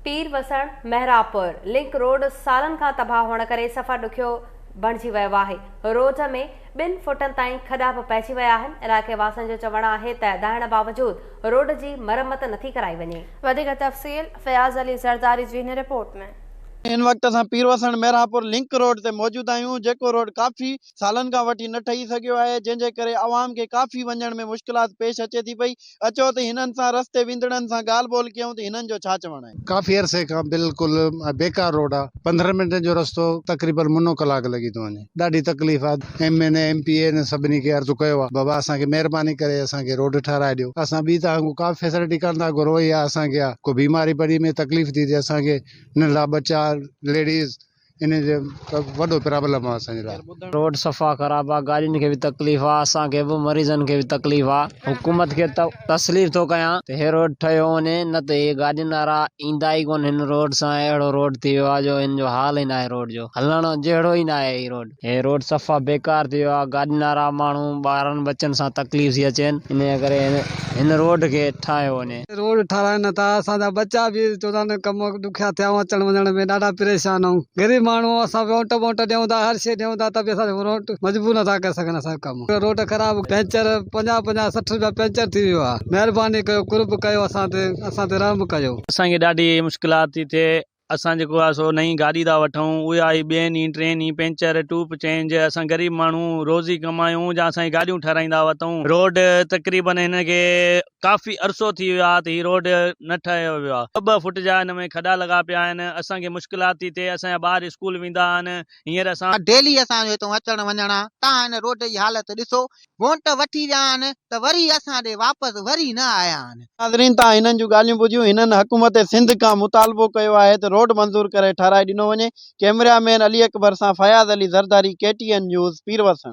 پير Wasan, Mehrabpur link road سالن کان تباهه هئڻ ڪري سفر ڏکيو بڻجي ويو آهي، روڊ ۾ ٻن فوٽن تائين کڏا به پئجي ويا آهن، علائقي واسين جو چوڻ آهي ته دانهڻ باوجود روڊ جي مرمت نٿي ڪرائي وڃي. وڌيڪ تفصيل فياض علي زرداري جي هن رپورٽ ۾. ان وقت اسان پير وسڻ، مهراپور لنڪ روڊ تي موجود آهيون، جيڪو روڊ ڪافي سالن کان وٺي نه ٺهي سگهيو آهي جنهن جي ڪري عوام کي ڪافي وڃڻ ۾ مشڪلات پيش اچي ٿي پئي اچو ته هنن سان رستي ويندڙن سان ڳالهه ٻولهه ڪيون ته هنن جو ڇا چوڻ آهي. ڪافي عرصي کان بلڪل بيڪار روڊ آ پندرهن منٽن جو رستو تقريبن منو ڪلاڪ لڳي ٿو وڃي ڏاڍي تڪليف آ M N A M P A هن سڀني کي عرض ڪيو آ بابا اسان کي مهرباني ڪري اسان کي روڊ ٺهرائي ڏيو اسان ٻي توهان کان ڪا فيسلٽي ڪانه ٿا گهرون يا اسان کي آ ڪو بيماري پڙي ۾ تڪليف ٿي ٿئي اسان کي ننڍڙا ٻچا ليڊيز انهن جو وڏو پرابلم آ اسان جي لاء. روڊ صفا خراب آ گاڏين کي به تڪليف آ اسان کي به مريضن کي به تڪليف آ حڪومت کي تسليف ٿو ڪيان ته هي روڊ ٺهيو وڃي نه ته هي گاڏين وارا ايندا ئي ڪون هن روڊ سان اهڙو روڊ ٿي ويو آ جو هن جو حال ئي ناهي روڊ جو هلڻ جهڙو ئي ناهي هي روڊ. هي روڊ صفا بيڪار ٿي ويو آهي، گاڏين وارا ماڻهو ٻارن ٻچن سان تڪليف ٿي اچين، انهيء ڪري هن روڊ کي ٺاهيو وڃي. روڊ ٺاراهين نه ته اسان جا ٻچا به چوندا نه ڪم ڏکيا ٿيا آهن، اچڻ وڃڻ ۾ ڏاڍا پريشان آهيون، غريب ماڻهو آهيون، اسان وونٽ بونٽ ڏيون ٿا، هر شيء ڏيون ٿا ته به اسان جا وونٽ مجبور نه ٿا ڪري سگهن اسان جو ڪم، روڊ خراب، پنچر پنجاهه پنجاهه سٺ رپيا پنچر ٿي ويو آهي، مهرباني ڪيو قرب ڪيو اسان تي، اسان تي رحم ڪيو. اسان کي ڏاڍي مشڪلات ٿي ٿئي. اسان جيڪو آهي سو نئين گاڏي ٿا وٺون اهي آهي ٻين ئي ٽين ئي پينچر ٽوپ چينج اسان غريب ماڻهو روزي ڪمايون جا اسان هي گاڏيون ٺهرائيندا هئا تون روڊ تقريبن هن کي ڪافي عرصو ٿي ويو آهي ته هي روڊ نه ٺهيو ويو آهي ٻه ٻه فٽ جا هن ۾ کڏا لڳا پيا آهن اسان کي مشڪلات ٿي ٿئي اسان جا ٻار اسڪول ويندا آهن هينئر اسان. ڊيلي اسان جو هتون اچڻ وڃڻ آهي تان هن روڊ جي حالت ڏسو وونٽ وٺي ويا آهن ته وري اسان ڏي واپس وري نه آيا آهن. ناظرين تان هنن جون ڳالهيون ٻڌيون هنن حڪومت سنڌ کان مطالبو ڪيو آهي ته روڊ منظور ڪري ٺهرائي ڏنو وڃي ڪيمريا مين علي اڪبر سان Fayyaz Ali Zardari K T N news پيروسڻ.